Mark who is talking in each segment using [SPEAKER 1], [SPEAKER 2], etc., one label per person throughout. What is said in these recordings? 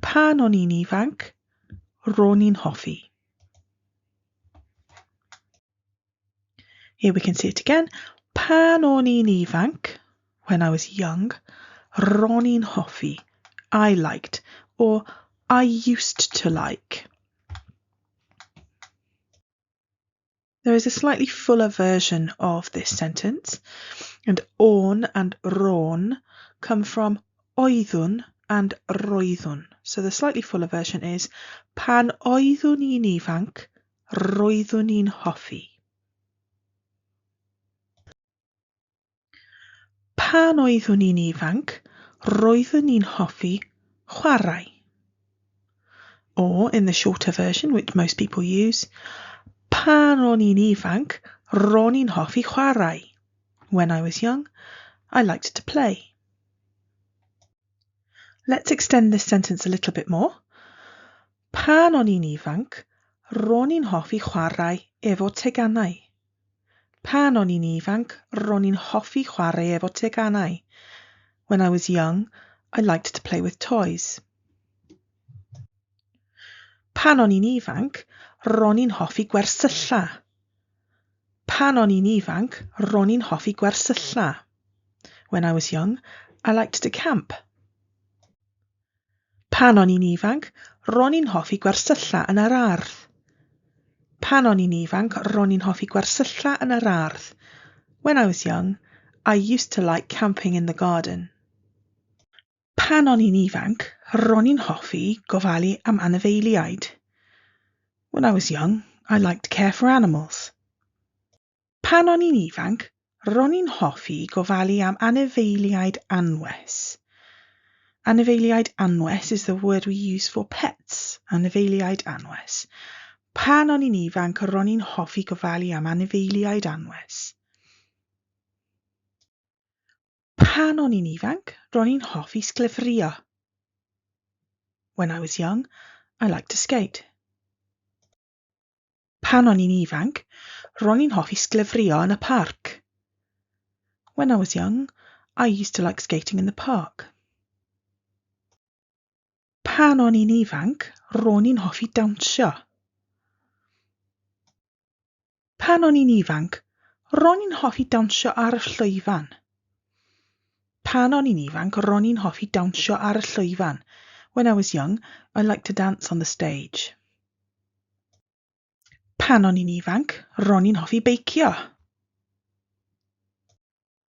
[SPEAKER 1] Pan o'n i'n ifanc, ro'n i'n hoffi. Here we can see it again. Pan o'n i'n ifanc, when I was young, ro'n i'n hoffi, I liked, or I used to like. There is a slightly fuller version of this sentence. And on and ron come from oeddwn and roeddwn. So the slightly fuller version is pan oeddwn i'n ifanc, roeddwn i'n hoffi. Pan oeddwn i'n ifanc, roeddwn i'n hoffi chwarae. Or, in the shorter version, which most people use, pan o'n i'n ifanc, ro'n i'n hoffi chwarae. When I was young, I liked to play. Let's extend this sentence a little bit more. Pan o'n i'n ifanc, ro'n i'n hoffi chwarae efo teganau. Pan o'n i'n ifanc, ro'n i'n hoffi chwarae efo teganau. When I was young, I liked to play with toys. Pan o'n i'n ifanc, ro'n i'n hoffi gwersylla. Pan o'n i'n ifanc, ro'n i'n hoffi gwersylla. When I was young, I liked to camp. Pan o'n i'n ifanc, ro'n i'n hoffi gwersylla yn yr ardd. Pan o'n i'n ifanc, ro'n i'n hoffi gwersylla yn yr ardd. When I was young, I used to like camping in the garden. Pan o'n i'n ifanc, ro'n i'n hoffi gofalu am anifeiliaid. When I was young, I liked to care for animals. Pan o'n i'n ifanc, ro'n i'n hoffi gofalu am anifeiliaid anwes. Anifeiliaid anwes is the word we use for pets. Anifeiliaid anwes. Pan o'n i'n ifanc, ro'n i'n hoffi gofalu am anifeiliaid anwes. Pan o'n i'n ifanc, ro'n i'n hoffi sglefrio. When I was young, I liked to skate. Pan o'n i'n ifanc, ro'n i'n hoffi sglefrio yn y parc. When I was young, I used to like skating in the park. Pan o'n i'n ifanc, ro'n i'n hoffi dawnsio. Pan o'n i'n ifanc, ro'n i'n hoffi dawnsio ar y llwyfan. Pan o'n i'n ifanc, ro'n i'n hoffi dawnsio ar y llwyfan. When I was young, I liked to dance on the stage. Pan o'n i'n ifanc, ro'n i'n hoffi beicio.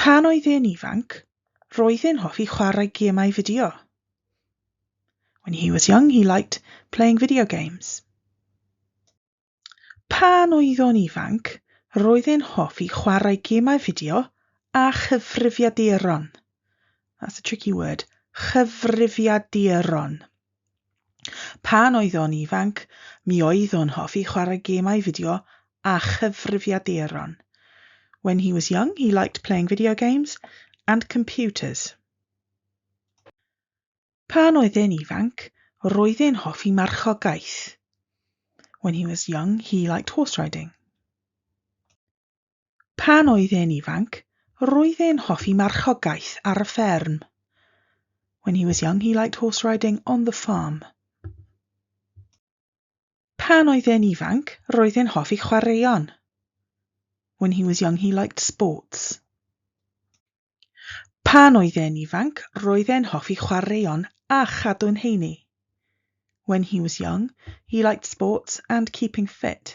[SPEAKER 1] Pan oedd e'n ifanc, roedd e'n hoffi chwarae gemau fideo. When he was young, he liked playing video games. Pan oedd o'n ifanc, roedd e'n hoffi chwarae gemau fideo a chyfrifiaduron. That's a tricky word. Chyfrifiaduron. Pan oedd o'n ifanc, mi oedd o'n hoffi chwarae gemau fideo a chyfrifiaduron. When he was young, he liked playing video games and computers. Pan oedd e'n ifanc, roedd e'n hoffi marchogaeth. When he was young, he liked horse riding. Pan oedd e'n ifanc, roedd e'n hoffi marchogaeth ar y fferm. When he was young, he liked horse riding on the farm. Pan oedd e'n ifanc, roedd e'n hoffi chwaraeon. When he was young, he liked sports. Pan oedd e'n ifanc roedd e'n hoffi chwaraeon a chadw'n heini. When he was young, he liked sports and keeping fit.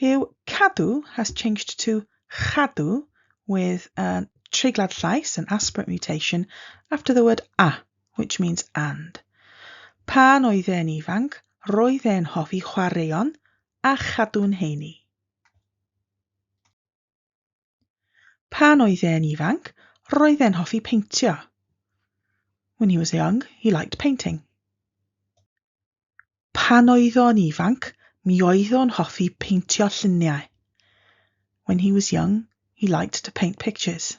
[SPEAKER 1] Yw cadw has changed to chadw with a treiglad llais, an aspirate mutation, after the word a, which means and. Pan oedd e'n ifanc roedd e'n hoffi chwaraeon a chadw'n heini. Pan oedd e'n ifanc, roedd e'n hoffi peintio. When he was young, he liked painting. Pan oedd o'n ifanc, mi oedd o'n hoffi peintio lluniau. When he was young, he liked to paint pictures.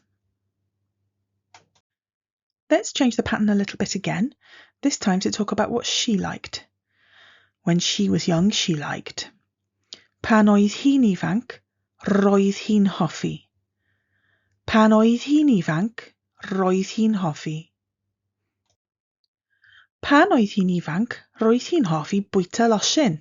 [SPEAKER 1] Let's change the pattern a little bit again, this time to talk about what she liked. When she was young, she liked. Pan oedd hi'n ifanc, roedd hi'n hoffi. Pan oedd hi'n ifanc, roedd hi'n hoffi. Pan oedd hi'n ifanc, roedd hi'n hoffi bwyta losin.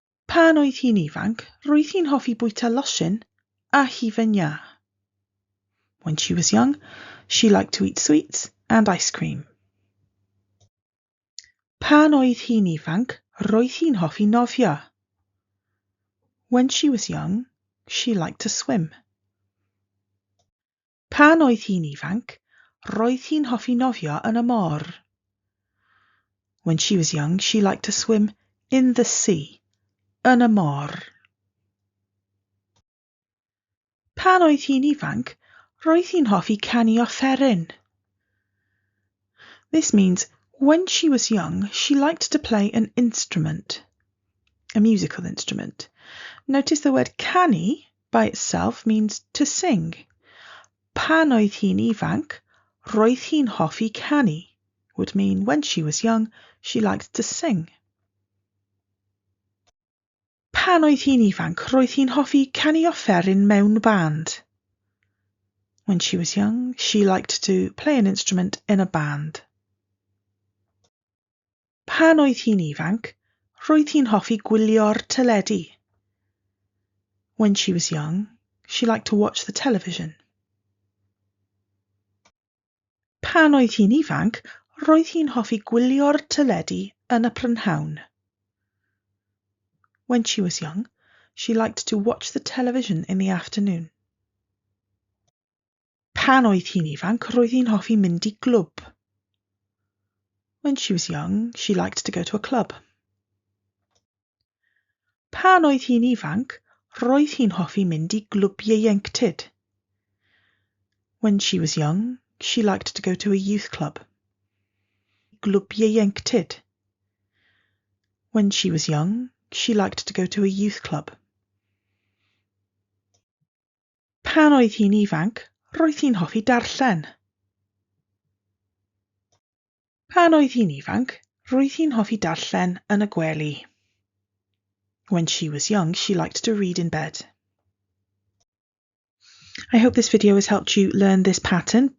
[SPEAKER 1] Pan oedd hi'n ifanc, roedd hi'n hoffi bwyta losin a hufen iâ. When she was young, she liked to eat sweets and ice cream. Pan oedd hi'n ifanc, roedd hi'n hoffi nofio. When she was young, she liked to swim. Pan oedd hi'n ifanc, roedd hi'n hoffi nofio yn y môr. When she was young, she liked to swim in the sea, yn y môr. Pan oedd hi'n ifanc, roedd hi'n hoffi canu offeryn. This means when she was young, she liked to play an instrument, a musical instrument. Notice the word canu, by itself means to sing. Pan oedd hi'n ifanc, roedd hi'n hoffi canu would mean when she was young, she liked to sing. Pan oedd hi'n ifanc, roedd hi'n hoffi canu offeryn mewn band. When she was young, she liked to play an instrument in a band. Pan oedd hi'n ifanc, roedd hi'n hoffi gwylio'r teledu. When she was young, she liked to watch the television. Pan oedd hi'n ifanc, roedd hi'n hoffi gwylio'r teledu yn y prynhawn. When she was young, she liked to watch the television in the afternoon. Pan oedd hi'n ifanc, roedd hi'n hoffi mynd i glwb. When she was young, she liked to go to a club. Pan oedd hi'n ifanc, roedd hi'n hoffi mynd i glwb ieuenctid. When she was young, she liked to go to a youth club. Glwb ieuenctid. When she was young, she liked to go to a youth club. Pan oedd hi'n ifanc, roedd hi'n hoffi darllen. Pan oedd hi'n ifanc, roedd hi'n hoffi darllen yn y gwely. When she was young, she liked to read in bed. I hope this video has helped you learn this pattern.